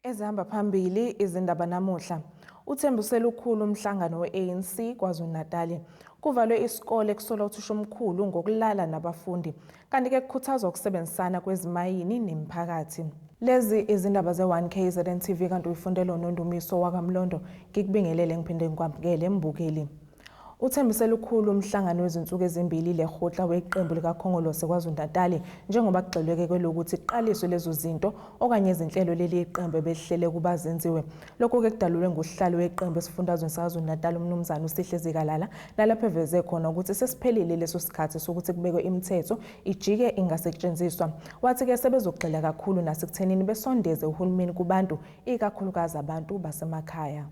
Ezihamba phambili izindaba namuhla. Uthembise lukhulu umhlangano we-ANC KwaZulu-Natali. Kuvalwe isikole kusolwa uthisha omkhulu ngokulala nabafundi, kanti-ke kukhuthazwa ukusebenzisana kwezimayini nemiphakathi. Lezi izindaba ze-1 KZN TV kanti uyifundelwa unondumiso wakamlondo. Ngikubingelele ngiphinde ngikwamukele mbukeli. Uthembise lukhulu umhlangano wezinsuku ezimbili lekgotla weqembu likaKhongolose KwaZulu-Natali njengoba kugxilweke kwelokuthi kuqaliswe lezo zinto okanye izinhlelo leli iqembu ebelihlele ukuba zenziwe. Lokhu-ke kudalulwe ngusihlalo weqembu esifundazweni saKwaZulu-Natali uMnumzane uSihle Zikalala nalapho eveze khona ukuthi sesiphelile leso sikhathi sokuthi kubekwe imithetho ijike ingasetshenziswa. Wathi-ke sebezogxila kakhulu nasekuthenini besondeze uhulumeni kubantu ikakhulukazi abantu basemakhaya.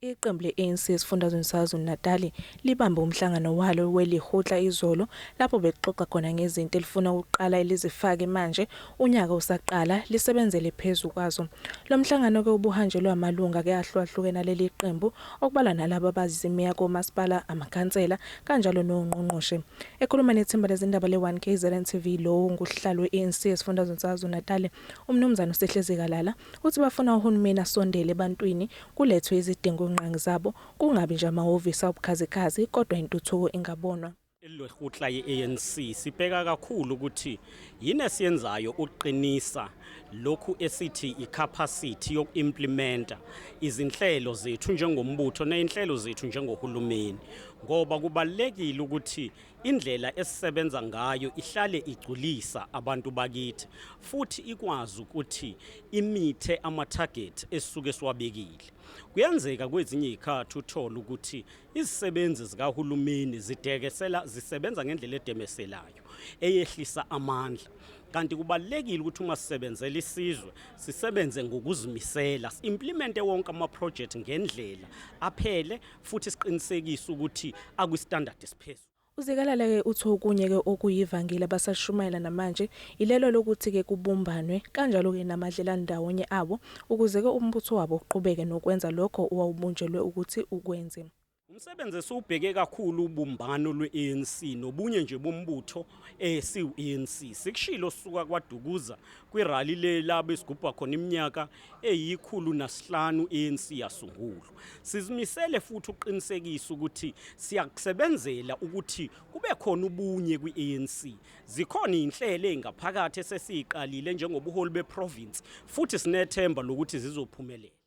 Iqembu le-ANC esifundazweni saKwaZulu-Natali libambe umhlangano walo welikgotla izolo lapho belixoxa khona ngezinto elifuna ukuqala elizifake manje unyaka usaqala lisebenzele phezu kwazo. Lo mhlangano ke ubuhanjelwe amalunga ke ahlukahlukene aleli qembu okubalwa nalabo abazimeya komasipala, amakhansela kanjalo nongqongqoshe. Ekhuluma nethimba lezindaba le-One KZN TV lowo ngusihlalo we-ANC esifundazweni saKwaZulu-Natali uMnumzane uSihle Zikalala, Uthi bafuna uhulumeni asondele ebantwini, kulethwe izidingo ngqangi zabo, kungabi nje amahhovisi awubukhazikhazi kodwa intuthuko ingabonwa. Ilwehutla ye-ANC sibheka kakhulu ukuthi yini esiyenzayo ukuqinisa lokhu esithi ikhapasithi yoku-implimenta izinhlelo zethu njengombutho neyinhlelo zethu njengohulumeni ngoba kubalulekile ukuthi indlela esisebenza ngayo ihlale igculisa abantu bakithi futhi ikwazi ukuthi imithe ama-target esisuke siwabekile kuyenzeka kwezinye izikhathi uthole ukuthi izisebenzi zikahulumeni zidekesela zisebenza ngendlela edemeselayo eyehlisa amandla kanti kubalekile ukuthi uma sisebenzela isizwe sisebenze ngokuzimisela implemente wonke ama project ngendlela aphele futhi siqinisekise ukuthi akwistandard esiphezulu. UZikalala-ke uthi okunye-ke okuyivangile abasalishumayela namanje ilelo lokuthi-ke kubumbanwe kanjalo-ke namadlelandawonye abo ukuze-ke umbutho wabo uqhubeke nokwenza lokho owawubunjelwe ukuthi ukwenze. Umsebenzi esiwubheke kakhulu ubumbano lwe-ANC nobunye nje bombutho eh, siwu-ANC. Sikushilo sisuka kwaDukuza kwirali le labe sigubha khona iminyaka eyikhulu nasihlanu i-ANC yasungulwa. Sizimisele futhi ukuqinisekisa ukuthi siyakusebenzela ukuthi kube khona ubunye kwi-ANC. Zikhona izinhlelo ezingaphakathi esesiziqalile njengobuholi beprovince futhi sinethemba lokuthi zizophumelela.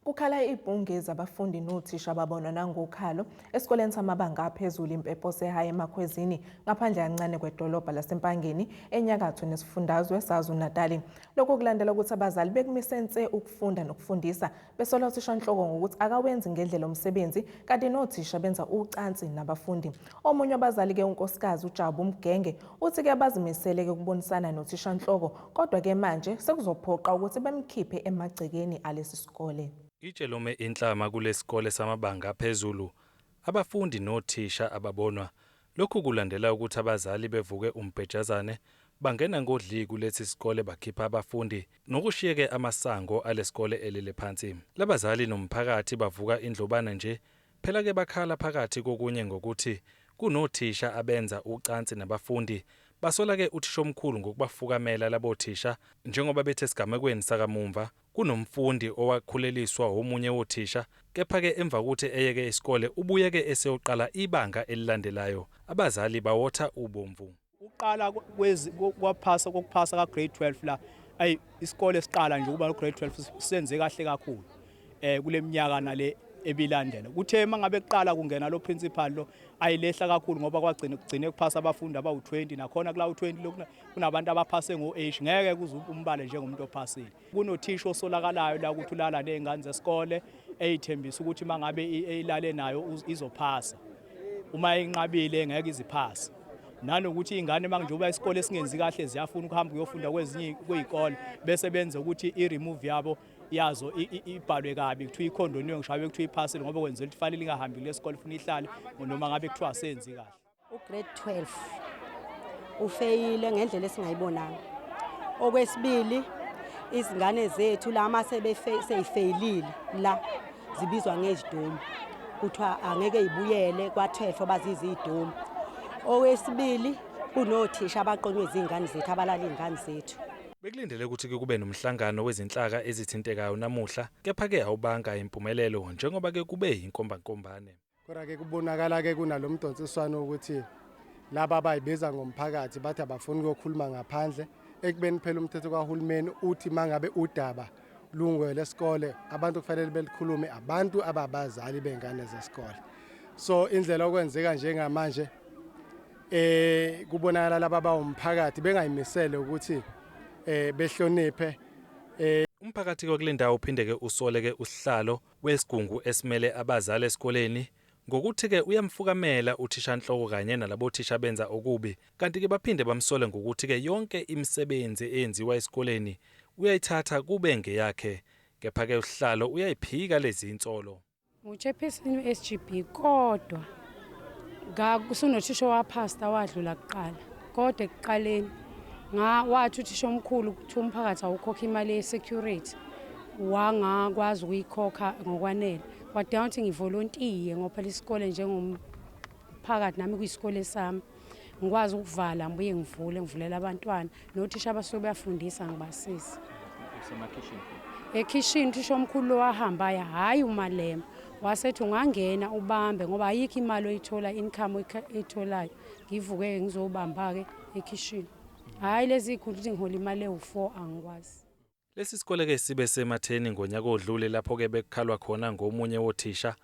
Kukhala ibhunge zabafundi nothisha babona nangokhalo esikoleni samabanga aphezulu impepho sehaye emakhwezini ngaphandle kancane kwedolobha lasempangeni enyakatho nesifundazwe sazu-natali lokhu kulandela ukuthi abazali bekumise nse ukufunda nokufundisa besola uthishanhloko ngokuthi akawenzi ngendlela umsebenzi kanti nothisha benza ucansi nabafundi omunye wabazali ke unkosikazi ujabu mgenge uthi ke bazimisele ke ukubonisana nothishanhloko kodwa ke manje sekuzophoqa ukuthi bemkhiphe emagcekeni alesi sikole Itshe lome inhlama kulesikole samabanga aphezulu abafundi nothisha ababonwa Lokhu kulandela ukuthi abazali bevuke umbhejazane bangena ngodli kulesi sikole bakhipha abafundi nokushiyeke amasango alesikole elele phansi. Labazali nomphakathi bavuka indlobane nje phela ke bakhala phakathi kokunye ngokuthi kunothisha abenza ucansi nabafundi basola ke uthishomkhulu ngokubafukamela labothisha njengoba bethi esigamekweni sakamumva Kunomfundi owakhuleliswa womunye wothisha kepha-ke emva kokuthi eyeke isikole ubuye-ke eseyoqala ibanga elilandelayo. Abazali bawotha ubomvu. Ukuqala kwaphasa kokuphasa ka grade 12 la ayi isikole siqala nje ukuba no grade 12 senze kahle kakhulu eh kule minyaka nale ebilandela kuthe uma ngabe kuqala kungena lo principal lo ayilehla kakhulu ngoba kwagcina kugcine kuphasa abafundi abawu-20 nakhona kula u-20 lokuna kunabantu abaphase ngo-h ngeke kuze umbale njengomuntu ophasile kunothisha osolakalayo la ukuthi ulala ney'ngane zesikole eyithembisa ukuthi uma ngabe ilale nayo izophasa uma inqabile ngeke iziphase nanokuthi iy'ngane uma njengoba isikole esingenzi kahle ziyafuna ukuhamba kuyofunda kwezinye kwey'kole bese benze ukuthi i-remove yabo yazo ibhalwe kabi kuthiwa ikhondoniwe ngisho abe kuthiwa iphasile ngoba kwenzela ukuthi fanele ingahambi kule sikole funa ihlale noma ngabe kuthiwa asenzi kahle ugrade 12 ufeyile ngendlela esingayibonanga okwesibili izingane zethu la uma seyifeyilile la zibizwa ngezidomu kuthiwa angeke ibuyele kwathefo baziza izidomu owesibili kunothisha abaqonywe izingane zethu abalala izingane zethu Bekulindele ukuthi kube nomhlangano wezinhlaka ezithintekayo namuhla, kepha-ke awubanga impumelelo njengoba-ke kube yinkombankombane. Kodwa ke kubonakala ke kunalomdonsiswano ukuthi laba abayibiza ngomphakathi bathi abafuni ukuyokhuluma ngaphandle ekubeni phela umthetho kahulumeni uthi mangabe udaba lungwe lesikole abantu kufanele belikhulume abantu ababazali bengane zesikole so indlela okwenzeka njengamanje eh kubonakala laba bawumphakathi bengayimisele ukuthi eh behloniphe eh umphakathi kwakulendawo uphindeke usoleke usihlalo wesigungu esimele abazali esikoleni ngokuthi-ke uyamfukamela uthishanhloko kanye nalabothisha abenza okubi kanti-ke baphinde bamsole ngokuthi-ke yonke imisebenzi eyenziwa esikoleni uyayithatha kube ngeyakhe kepha-ke usihlalo uyayiphika lezi insolo. Nguchairperson weSGB kodwa kakusonothisha owaphasta wadlula kuqala. kodwa ekuqaleni wathi uthisha omkhulu kuthiwa umphakathi awukhokha imali ye-security wangakwazi ukuyikhokha ngokwanele wadinga ukuthi ngivolontiye ngophela isikole njengomphakathi nami kuyisikole sami ngikwazi ukuvala ngibuye ngivule ngivulela abantwana nothisha abasuke beyafundisa ngibasiza ekhishini uthisha omkhulu lowahambayo hhayi umalema wasethi ungangena ubambe ngoba ayikho imali oyithola income oyitholayo ngivuke-ke ngizowubamba-ke ekhishini hhayi lezi y'khundla ukuthi ngihola imali ewu-four angikwazi Lesi sikole-ke sibe sematheni ngonyaka odlule lapho-ke bekukhalwa khona ngomunye wothisha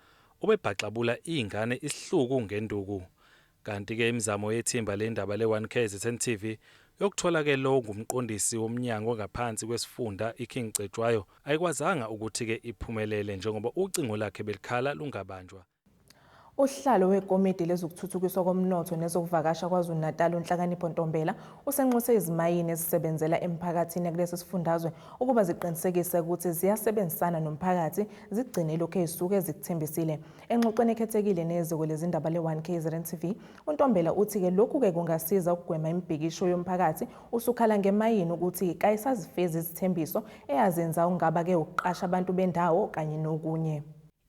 obebhaxabula iy'ngane isihluku ngenduku. Kanti-ke imizamo yethimba lendaba le-One KZN TV yokuthola-ke lo ngumqondisi womnyango ongaphansi kwesifunda iKing Cetshwayo ayikwazanga ukuthi-ke iphumelele njengoba ucingo lakhe belikhala lungabanjwa Usihlalo wekomidi lezokuthuthukiswa komnotho nezokuvakasha KwaZulu-Natal uNhlakanipho Ntombela usenxuse izimayini ezisebenzela emphakathini kulesi sifundazwe ukuba ziqinisekise ukuthi ziyasebenzisana nomphakathi zigcine ilokhu ezisuke zikuthembisile. Engxoxweni ekhethekile neziko lezindaba le-1 KZN TV, uNtombela uthi-ke lokhu-ke kungasiza ukugwema imibhikisho yomphakathi usukhala ngemayini ukuthi kayisazifezi izithembiso eyazenza ungaba-ke ukuqasha abantu bendawo kanye nokunye.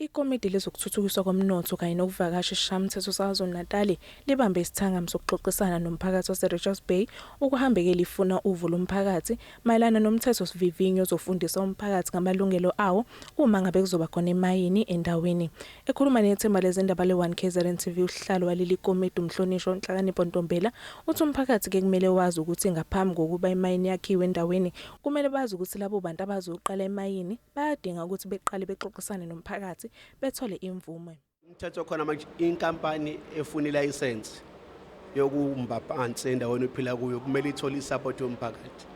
Ikomidi lezokuThuthukiswa koMnotho kanye nokuVakasha eSishayamthetho saKwaZulu-Natali libambe isithangami sokuxoxisana nomphakathi waseRichards Bay ukuhambeke lifuna uvo lomphakathi mayelana nomthethosivivinyo ozofundisa umphakathi ngamalungelo awo uma ngabe kuzoba khona imayini endaweni. Ekhuluma nethimba lezindaba le-One kzn TV uSihlalo waleli komidi uMhlonishwa uNhlakanipho Ntombela uthi umphakathi kekumele wazi ukuthi ngaphambi kokuba imayini yakhiwe endaweni kumele bazi ukuthi labo bantu abazoqala imayini bayadinga ukuthi beqale bexoxisane nomphakathi bethole imvume. Umthetho khona manje inkampani efuna ilayisensi yokumba phansi endaweni ophila kuyo kumele ithole isapoti yomphakathi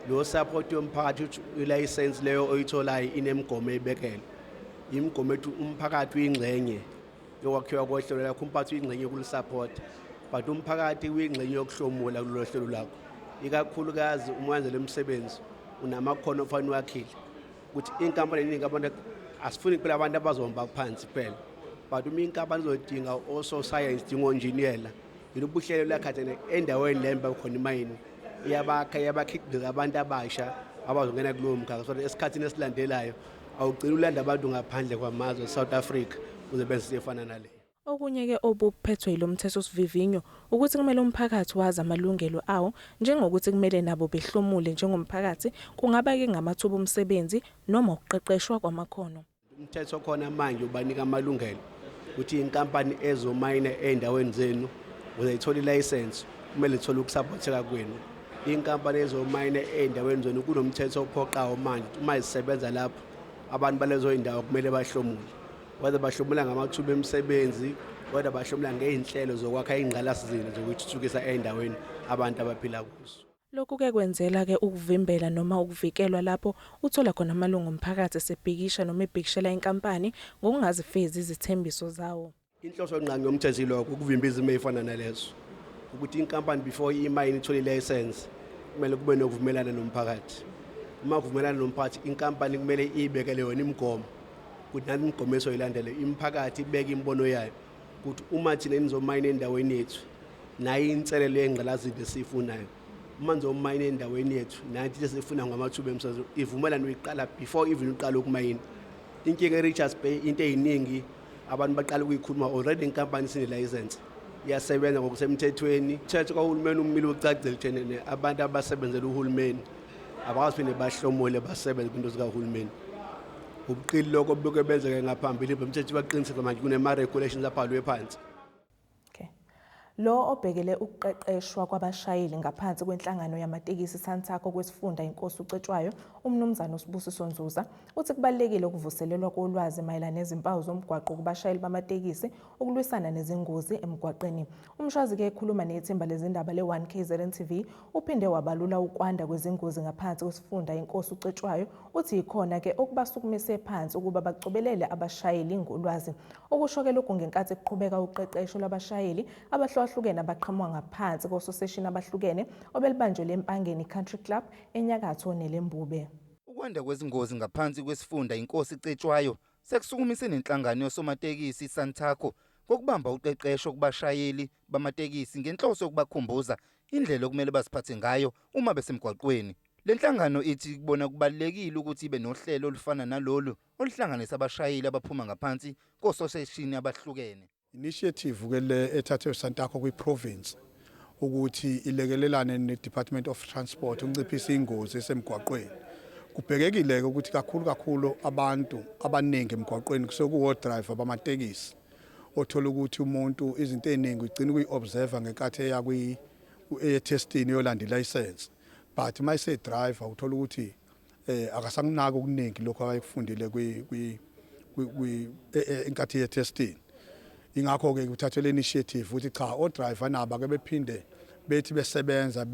lo sapoti yomphakathi uthi ilayisensi leyo oyitholayo inemigomo eyibekelwe imigomo ethi umphakathi uyingxenye yokwakhiwa kohlelo lakho umphathi uyingxenye yokulisaphotha but umphakathi uyingxenye yokuhlomula kulolo hlelo lakho ikakhulukazi uma wenza le msebenzi unamakhono ofanele wakhile ukuthi inkampani eningi abantu asifuni kuphela abantu abazohamba phansi kuphela but uma inkampani izodinga ososayensi dinga onjiniyela yilo buhlelo lakhathene endaweni le mba khona imayini iyabakha iyabakhiqiza abantu abasha abazongena kulowo mkhakha so esikhathini esilandelayo awugcina ulanda abantu ngaphandle kwamazwe South Africa uzobenza efana nale Okunye ke obuphethwe yilomthetho sivivinyo ukuthi kumele umphakathi wazi amalungelo awo njengokuthi kumele nabo behlomule njengomphakathi kungaba ke ngamathuba omsebenzi noma ukuqeqeshwa kwamakhono. Umthetho khona manje ubanika amalungelo ukuthi inkampani ezomayina ezindaweni zenu uzayithola ilayisense kumele ithole ukusaphotheka kwenu Inkampani ezomayina ey'ndaweni zona kunomthetho ophoqawo manje uma zisebenza lapho abantu balezo y'ndawo kumele bahlomule whether bahlomula ngamathuba emisebenzi whether bahlomula ngey'nhlelo zokwakha ingqalasizinda zokuthuthukisa ey'ndaweni abantu abaphila kuzo Lokhu ke kwenzela ke ukuvimbela noma ukuvikelwa lapho uthola khona amalungu omphakathi esebhikisha noma ebhikishela inkampani ngokungazifezi izithembiso zawo. Inhloso nqangi yomthetho ilokho ukuvimba izimo ezifana nalezo ukuthi inkampani before imayini ithole ilayisensi kumele kube nokuvumelana nomphakathi uma kuvumelana nomphakathi inkampani kumele iyibekele yona imigomo ukuthi nani imigomo esoyilandele imiphakathi ibeke imibono yayo ukuthi uma thina nizomayina endaweni yethu nayo inselelo yengqalazidle esiyifunayo uma nizomayina endaweni yethu nathi lesifuna ngamathuba emsebenzi ivumelano iqala before even uqala ukumayina inkinga e-richards bay into eyiningi Abantu baqala ukuyikhuluma already inkampani sine license iyasebenza ngokusemthethweni. Thethe kwahulumeni umile ucacile ekutheni abantu abasebenzela uhulumeni abakwazi phinde bahlomule basebenze kwinto zikahulumeni. Ubuqili lokho buke benzeke ngaphambili bemthetho baqinisile manje kunema regulations abhalwe phansi. Okay. Lo obhekele ukuqeqeshwa kwabashayeli ngaphansi kwenhlangano yamatekisi iSantaco kwesifunda iNkosi uCetshwayo, uMnumzane uSibusiso Nzuza, uthi kubalulekile ukuvuselelwa kolwazi mayelana nezimpawu zomgwaqo kubashayeli bamatekisi ukulwisana nezingozi emgwaqeni. Umshwazi-ke ekhuluma nethimba lezindaba le-1 KZN TV Uphinde wabalula ukwanda kwezingozi ngaphansi kwesifunda inkosi uCetshwayo uthi yikhona ke okubasukumise phansi ukuba bacobelele abashayeli ngolwazi. Okusho ke lokhu ngenkathi kuqhubeka uqeqesho lwabashayeli abahlukahlukene abaqhamuka ngaphansi kososeshini abahlukene obelubanjelwe eMpangeni Country Club enyakatho neLembube. Ukwanda kwezingozi ngaphansi kwesifunda inkosi Cetshwayo sekusukumise nenhlangano yosomatekisi iSantaco ngokubamba uqeqesho kubashayeli bamatekisi ngenhloso yokubakhumbuza indlela okumele baziphathe ngayo uma besemgwaqweni. Le nhlangano ithi kubona kubalulekile ukuthi ibe nohlelo olufana nalolu oluhlanganisa abashayeli abaphuma ngaphansi kososeshini abahlukene. Initiative ke le ethathwe uSantaco kwi-province ukuthi ilekelelane ne-Department of Transport ukunciphisa ingozi esemgwaqweni. Kubhekekile-ke ukuthi kakhulu kakhulu abantu abaningi emgwaqweni kusekuwo-driver bamatekisi. othola ukuthi umuntu izinto eziningi ugcina ukuyi-observer ngenkathi eya etestini eyolanda ilayisensi but uma esedriver uthola ukuthi um akasakunaki okuningi lokhu akayekufundile enkathi yetestini ingakho-ke kuthathwe le initiative ukuthi cha odriver nabo ake bephinde bethi besebenza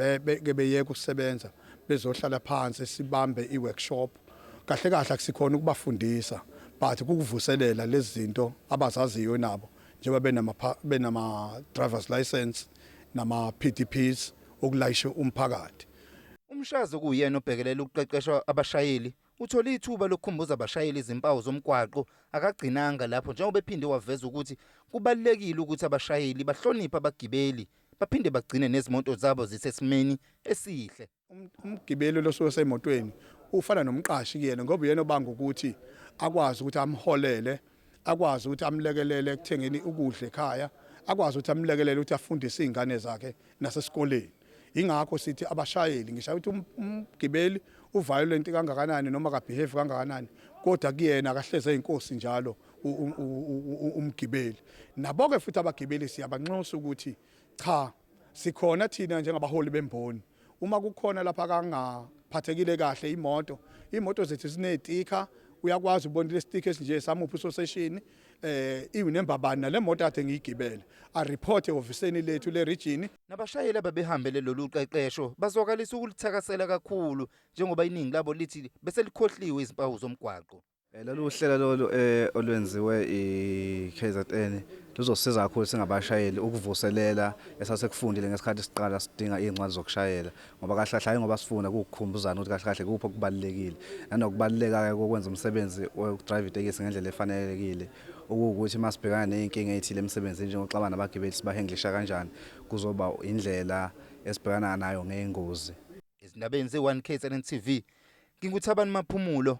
ke beyeke ukusebenza bezohlala phansi sibambe i-workshop Kahle kahle akusikhona ukubafundisa but kukuvuselela lezi zinto abazaziyo nabo njengoba benama benama driver's license nama PDPs okulayisha umphakathi. Umshazi okuyena obhekelela ukuqeqeshwa abashayeli uthole ithuba lokukhumbuza abashayeli izimpawu zomgwaqo akagcinanga lapho njengoba ephinde waveza ukuthi kubalulekile ukuthi abashayeli bahloniphe abagibeli baphinde bagcine nezimoto zabo zisesimeni esihle. Um-, umgibeli losuke semotweni ufana nomqashi kuyena ngoba uyena obanga ukuthi akwazi ukuthi amholele akwazi ukuthi amlekelele ekuthengeni ukudla ekhaya akwazi ukuthi amlekelele ukuthi afundise izingane zakhe nasesikoleni ingakho sithi abashayeli ngisho ukuthi um-, umgibeli uviolent kangakanani noma kabehave kangakanani kodwa kuyena akahleze inkosi njalo umgibeli nabo ke futhi abagibeli siyabanxusa ukuthi cha Sikhona thina njengabaholi bemboni. Uma kukhona lapha kangaphathekile kahle imoto, imoto zethu zinetikha uyakwazi ukubona le stick esinje samuphi usoseshini eh iwunemba bani nale moto ade ngiyigibele a report ehofisini lethu le region Nabashayeli ababehambele lolu qeqesho bazwakalisa ukulithakasela kakhulu njengoba iningi labo lithi beselikhohliwe izimpawu zomgwaqo. Eh, lolu uhlelo lolu eh, olwenziwe i-KZN luzosiza kakhulu singabashayeli ukuvuselela esasekufundile ngesikhathi siqala sidinga iy'ncwadi zokushayela ngoba kahle kahle hhayi ngoba sifunda kuwukukhumbuzana ukuthi kahle kahle kuphi okubalulekile nanokubaluleka-ke kokwenza umsebenzi wokudrayiva itekisi ngendlela efanelekile ukuwukuthi uma sibhekana ney'nkinga ey'thile emsebenzini njengokuxabana nabagibeli sibahenglisha kanjani kuzoba indlela esibhekana nayo ngey'ngozi Ezindabeni ze-1 KZN TV, nginguThabani Maphumulo.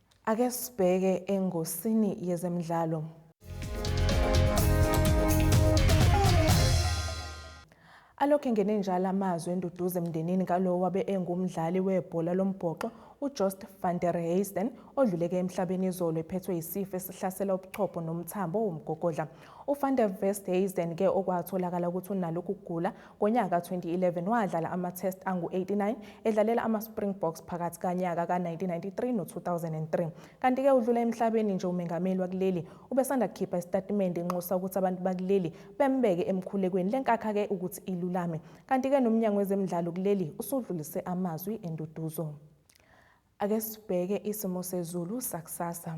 Ake sibheke engosini yezemidlalo. Alokhu engene njalo amazwi enduduzo emndenini kalowo wabe engumdlali webhola lombhoxo uJoost van der Heijden odluleke emhlabeni izolo ephethwe yisifo esihlasela ubuchopho nomthambo womgogodla. UVan der Westhuizen-ke okwatholakala ukuthi unalo ukugula Ngonyaka ka-2011 wadlala ama-test angu-89 edlalela ama-Springboks phakathi kanyaka ka-1993 no-2003. Kanti-ke udlula emhlabeni nje umengameli wakuleli ubesanda kukhipha isitatimende enxusa ukuthi abantu bakuleli bembeke emkhulekweni le nkakha-ke ukuthi ilulame. Kanti-ke nomnyango wezemidlalo kuleli usudlulise amazwi enduduzo. Ake sibheke isimo sezulu sakusasa.